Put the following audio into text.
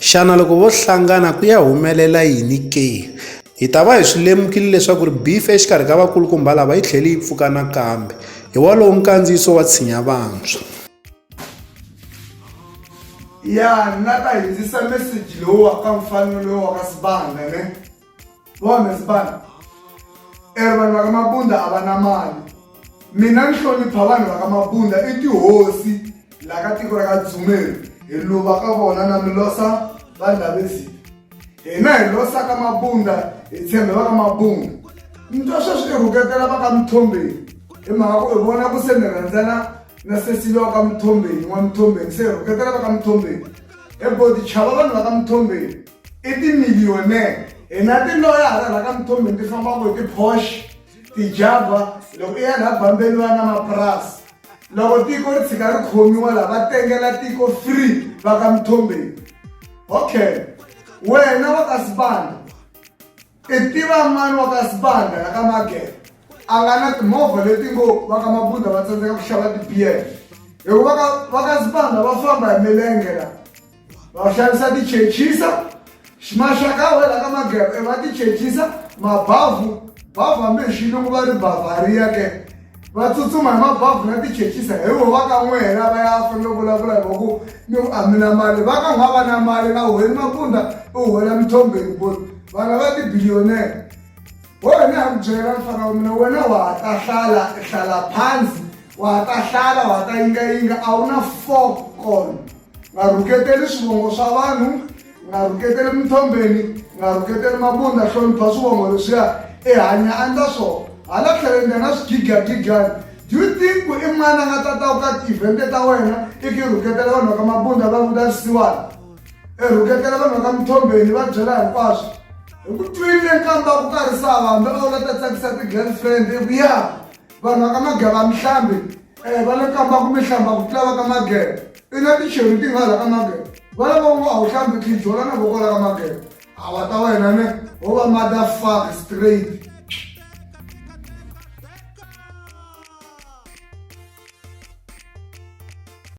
Xana loko vo hlangana ku ya humelela yini ke? Hi ta va hi swi lemukile leswaku ri beef exikarhi ka vakulukumba lava yi tlhele yi pfuka nakambe. Hi wolowo nkandziyiso wa Tshinya Vantshwa. Ya na ta hindzisa meseji lowu wa ka mfanelo wa ka Sibanda ne. vona zibani eri vanhu va ka mabunda a va na mali mina ni hlonipha vanhu va ka mabunda i tihosi laha ka tiko ra ka dzumeri hi luva ka vona na mi losa vanhu lavezini hina hi losa ka mabunda hi tshembe va ka mabunda ni twa sweswi i rhuketela va ka mithombeni hi mhaka ku i vona ku se mi rhandzana na sesiliwa ka mithombeni n'wa mithombeni se hi rhuketela va ka mithombeni ebodi chava vanhu va ka mithombeni i timiliyonere hi na tiloya hala la ka muthombeni ti fambaka hi ti-posh ti-java loko i ya laha bambeni va na mapurasi loko tiko ri tshika ri khomiwa laha va tengela tiko free va ka muthombeni okay wena wa ka sibanda I tiva mani wa ka Sibanda la ka Magere a nga na timovha leti ngo va ka Mabunda va tsandzeka ku xava tibiyele hikuva ka va ka Sibanda va famba hi milenge la va xavisa tichechisa maxaka we la ka Magere va tichechisa mabavhu bavhu hambi hi xilungu va ri bavaria ke va tsutsuma hi mabavhu na tichechisa hi wo va ka n'we hela va ya fanele vulavula hi vaku ni ku amina mali va ka n'wa va na mali na huheni mapunda u huhela mithombeni bo vana va tibiliyonere wo hi ni ha ku byela mfana wa mina wena wa ha ta hlala hlala phansi wa ha ta hlala wa ha ta yingayinga a wu na four con nga rhuketeli swivongo swa vanhu nga rhuketeli minthombeni nga rhuketeli mabunda hlonipha swivongo leswiya i hanya andla swona hala tlheleni nga na swigigagigyani do you think ku i n'wana nga ta ta u ka tivhente ta wena i ki rhuketela vanhu va ka mabunda va vuta swisiwana i rhuketela vanhu va ka minthombeni va byela hinkwaswo hi ku twile nkamba ku karhi sava hambi a wu la ta tsakisa ti-girlfriend i ku ya vanhu va ka mageba mihlambi um va le kamba ku mihlamba ku tlula va ka mageba i na ticheri ti nga la ka mageba va lava u va a wu hlambi tijola na voko la ka mageba a wa ta wena ne wo va mother fuck straight